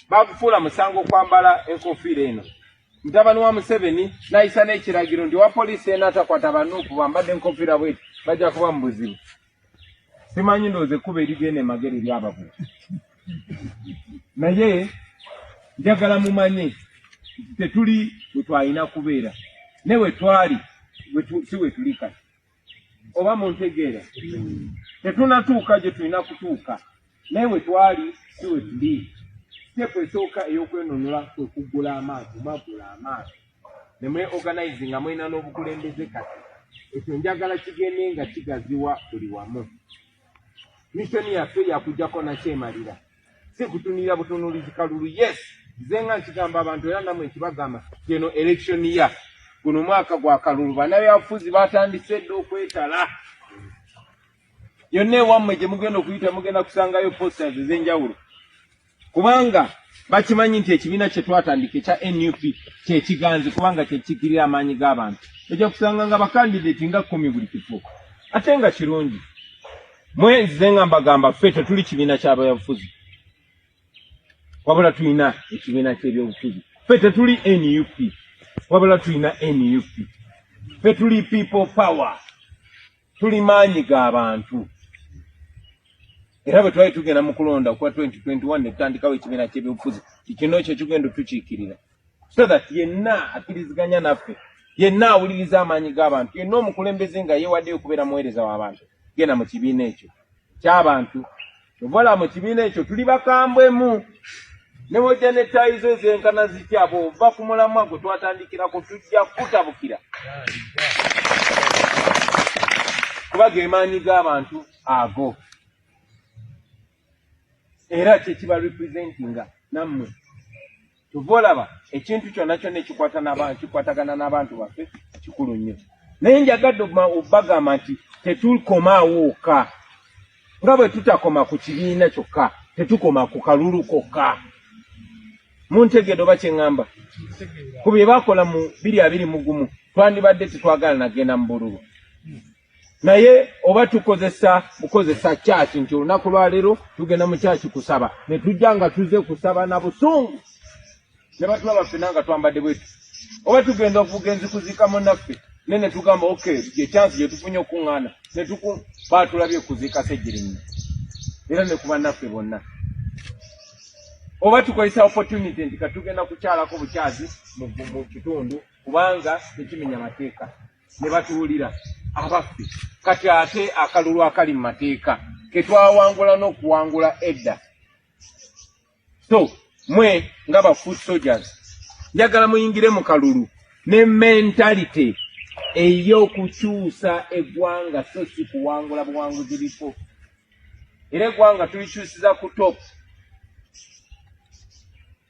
bakufuula musango okwambala enkofiira eno mutabani wa museveni nayisa n'ekiragiro nti owa poliisi ena atakwata banuupu bambadde enkofiira bweti bajja kuba mu buzibu simanyi ndowooza ekkuba erigenda emagere lyababula naye njagala mumanye tetuli wetwalina kubeera ne wetwali si wetuli kati oba muntegeera tetunatuuka gye tulina kutuuka naye we twali si we tuli siteepu esooka ey'okwenunula kwe kuggula amaaso magula amaaso ne mwe organize nga mulina n'obukulembeze kati ekyo njagala kigende nga kigaziwa buli wamu missoni yaffe yakujjako nakyemalira si kutunira butunulizi kalulu yes nze nga nkigamba abantu era namwe nkibagamba keno election ya guno mwaka gwa kalulu banabyabufuzi batandise dda okwetala yonna ewammwe gye mugenda okuyita mugenda kusangayo posters ez'enjawulo kubanga bakimanyi nti ekibiina kye twatandika ekya nup kyekiganzi kubanga kyekikirira amaanyi g'abantu ojja kusanga nga bakandidati nga kkumi buli kifo ate nga kirungi mwe nzize nga mbagamba ffe tetuli kibiina kyabayabufuzi wabula tulina ekibiina kyebyobufuzi ffe tetuli nup wabula tulina nup ffe tuli people power tuli maanyi ga bantu era bwe twali tugenda mu kulonda okuba 2021 netutandikawo ekibiina kyebyobufuzi kikino kyo kigenda otukiikirira so that yenna akkiriziganya naffe yenna awuliriza amaanyi g'abantu yenna omukulembeze nga yeewaddeyo okubeera muweereza w'abantu genda mu kibiina ekyo ky'abantu ovala mu kibiina ekyo tuli bakambwemu ne wojja ne ttaayi zo ezenkana zitya bw'ova ku mulamwa gwe twatandikirako tujja kukutabukira kuba ge maanyi g'abantu ago era kyekiba representinga nammwe kyova olaba ekintu kyonna kyonna ekikwatagana n'abantu baffe kikulu nnyo naye njagadde obagamba nti tetukoma awooka nga bwe tutakoma ku kibiina kyokka tetukoma ku kalulu kokka muntegeedo oba kyeŋŋamba ku bye bakola mu biri abiri mugumu twandibadde tetwagala nagenda mu bululu naye oba tukozesa bukozesa kyaki nti olunaku lwaleero tugenda mu kyaki kusaba ne tujja nga tuze kusaba na busungu ne batulaba ffena nga twambadde bwetu oba tugenda okuvuga enzikuzika munaffe ne ne tugamba ok gyekyansi gye tufunye okukuŋŋaana ne tuku baatulabye kuziika segirinnyo era ne ku bannaffe bonna oba tukozesa opportunity nti katugenda kukyalako bukyazi mu kitundu kubanga tekimenya mateeka ne batuwulira abaffe kati ate akalulu akali mu mateeka ke twawangula n'okuwangula edda so mwe nga ba food soldiers njagala muyingire mu kalulu ne mentality ey'okukyusa eggwanga so si kuwangula buwanguzi bifo era eggwanga tulikyusiza ku topu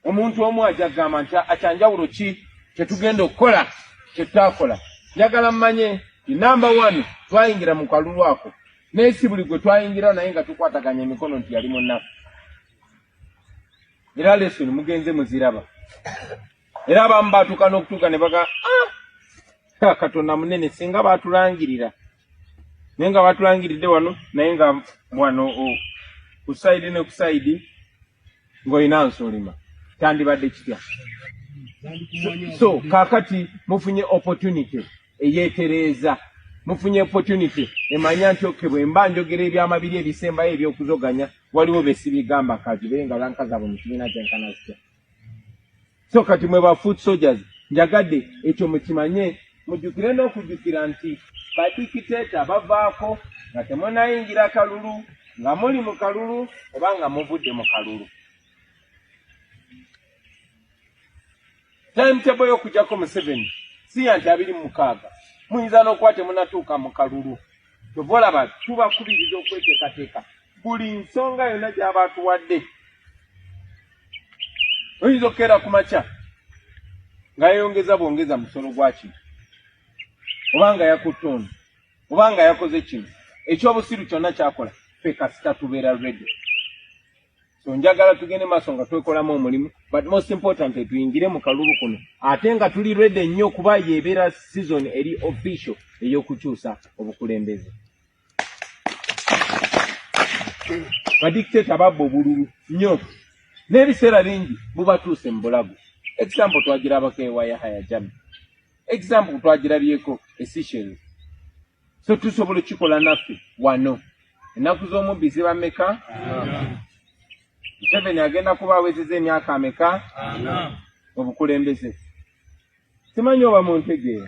Omuntu omu aja kugamba nti akyanjawulo ki kyetugenda okukola kyetutakola. Njagala mmanye nti namba one twayingira mu kalulu ako naye si buli gwe twayingira naye nga tukwataganya emikono nti yali munaku. Era lesson mugenze muziraba. Era abamu baatuuka n'okutuuka ne baga ah! Katonda munene singa baatulangirira naye nga baatulangiridde wano naye nga wano oh, ku sayidi ne ku sayidi ng'olina nsulima kyandibadde kitya so kakati mufunye opportunity eyetereeza mufunye opportunity emanya nti oke bwe mba njogera ebyama biri ebisembayo ebyokuzoganya waliwo besibigamba kazi beye nga bankazaabo mu kibiina kyenkana zitya so kati mwe ba foot soldiers njagadde ekyo mukimanye mujjukire n'okujjukira nti badikiteeta bavaako nga temunayingira kalulu nga muli mu kalulu oba nga muvudde mu kalulu timetable y'okujjako museveni siya nti abiri mu mukaaga muyinza n'okuba temunatuuka mu kalulu Kyova olaba tubakubiriza okweteekateeka buli nsonga yonna gyaba atuwadde. Oyinza okukeera ku makya nga yeyongeza bwongeza musolo gwa kino oba nga yakutte ono oba nga yakoze kino ekyobusiru kyonna kyakola ffe kasita tubeera ready. so njagala tugende maaso nga twekolamu omulimu but most important tuyingire mu kalulu kuno ate nga tuli rede nnyo kuba yebeera season eri official ey'okukyusa obukulembeze badictato babba obululu nnyo n'ebiseera bingi bubatuuse mu bulago example twagirabako ewa yahaya jami example twagirabyeko esisheri so tusobola okukikola naffe wano ennaku z'omubbi ziba meka museveni agenda kuba awezeza emyaka ameka obukulembeze simanyi oba muntegeera